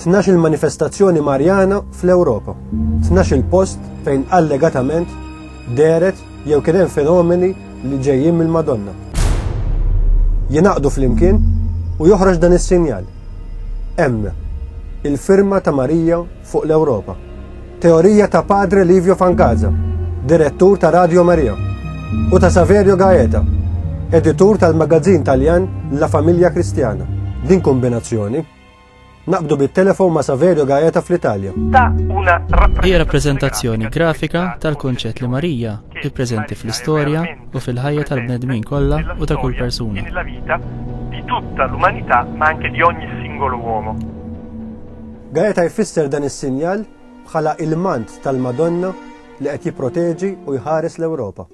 Tnax il-manifestazzjoni Marjana fl-Ewropa. Tnax il-post fejn allegatament deret jew kien hemm fenomeni li ġejjin mill-Madonna. Jinaqdu flimkien u joħroġ dan is-sinjal. Hemm il-firma ta' Marija fuq l-Ewropa. Teorija ta' Padre Livio Fangaza, direttur ta' Radio Maria, u ta' Saverio Gaeta, editur tal-magazzin Taljan La Famiglia Cristiana. Din kombinazzjoni. Naqbdu bit-telefon ma' Saverio Gaeta fl-Italja. Hija rappreżentazzjoni grafika tal-kunċett li Marija hi preżenti fl-istorja u fil-ħajja tal-bnedmin kollha u ta' kull persuna. di tutta l'umanità ma anche di ogni singolo uomo. Gaeta jfisser dan is-sinjal bħala il-mant tal-Madonna li qed jipproteġi u jħares l-Ewropa.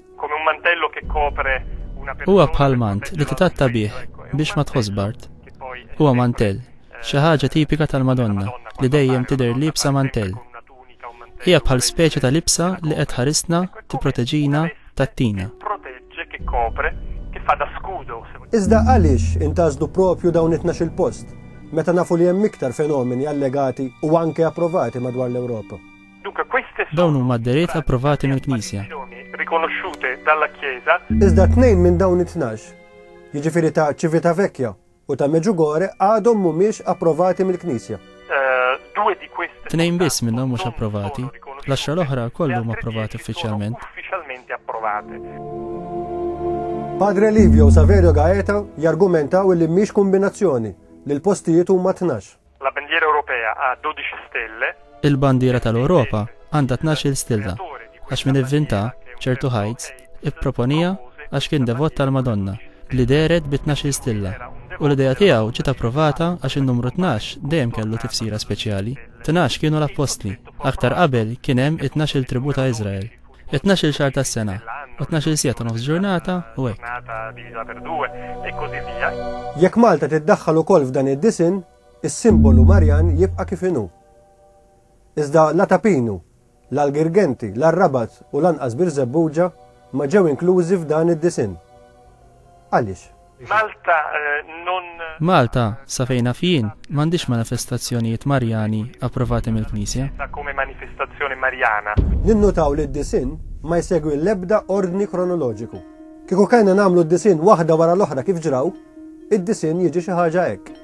Huwa bħal mant li titatta bih biex ma tħoss bart. Huwa mantell, xi ħaġa tipika tal-Madonna li dejjem tidher liebsa mantell. Hija bħal speċi ta' libsa li qed tħarisna, tipproteġina, tgħattina. Iżda għaliex intgħażlu proprju dawn it-tnax-il post, meta nafu li hemm iktar fenomeni allegati u anke approvati madwar l-Ewropa? Dawn huma d-dehriet approvati mill-Knisja. Iżda tnejn minn dawn it-tnax, jiġifieri ta' Civitavecchia, u ta' Medjugorje għadhom mhumiex approvati mill-Knisja. Tnejn biss minnhom mhux approvati, l-għaxra l-oħra lkoll huma approvati uffiċjalment. Padre Livio u Saverio Gaeta jargumentaw li mhix kombinazzjoni, li l-postijiet huma tnax. La bandiera europea ha 12 stelle. Il-bandiera tal-Ewropa għandha tnax-il stilla għax min ivvinta ċertu heights ipproponiha għax kien devot tal-Madonna li dehret bi tnax-il stilla u l-idea tiegħu ġiet approvata għax in-numru tnax dejjem kellu tifsira speċjali. Tnax kienu l-appostli. Aktar qabel kien hemm it-tnax-il tribù ta' Iżrael. It-tnax-il xahar tas-sena, u tnax-il siegħa ta' nofs ġurnata, u hekk. Jekk Malta tiddaħħal ukoll f'dan id-disinn, is-simbolu Marjan jibqa' kif inhu. Iżda la Ta' Pinu, la l-Girgenti, la r-Rabat u lanqas Birżebbuġa ma ġew inklużi f'dan id-disinn. Għaliex? Malta non. Malta, sa fejn naf jien, m'għandhiex manifestazzjonijiet Marjani approvati mill-Knisja. Come manifestazione mariana. Ninnutaw li d-disinn ma jsegwi l-ebda ordni kronoloġiku. Kieku kellna nagħmlu d-disinn waħda wara l-oħra kif ġraw, id-disinn jiġi xi ħaġa hekk.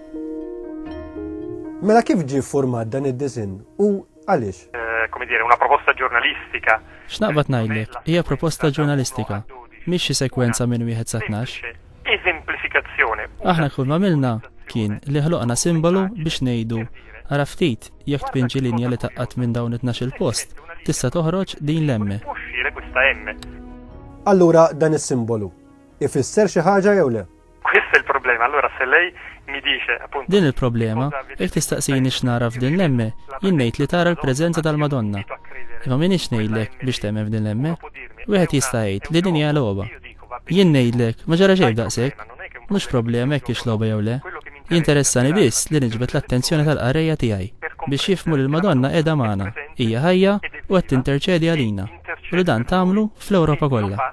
Mela kif ġie ffurmat dan id-disinn u Għaliex? Eh, come dire, una proposta ġurnalistika. X'naqbad ngħidlek, hija proposta ġurnalistika, mhix xi sekwenza minn wieħed sa tnax. Eżemplifikazzjoni. Aħna kull ma milna kien li ħloqna simbolu biex ngħidu ara ftit jekk tpinġi linja li taqqat minn dawn it il post tista' toħroġ din l-emme. Allura dan is-simbolu ifisser xi ħaġa jew le? Questa è il problema, allora se lei mi dice appunto Din il-problema, jekk tistaqsini x'nara f'din l-emme, jien ngħid li tara l-preżenza tal-Madonna. Imma m'iniex ngħidlek biex temmen f'din l-emme. Wieħed jista' jgħid li din hija logħba. Jien ngħidlek, ma ġara xejn f'daqshekk. Mhux problema jekk hix logħba jew le. Jinteressani biss li niġbed l-attenzjoni tal-qarrejja tiegħi biex jifhmu li l-Madonna qiegħda magħna, hija ħajja u qed tinterċedi għalina u li dan tagħmlu fl-Ewropa kollha.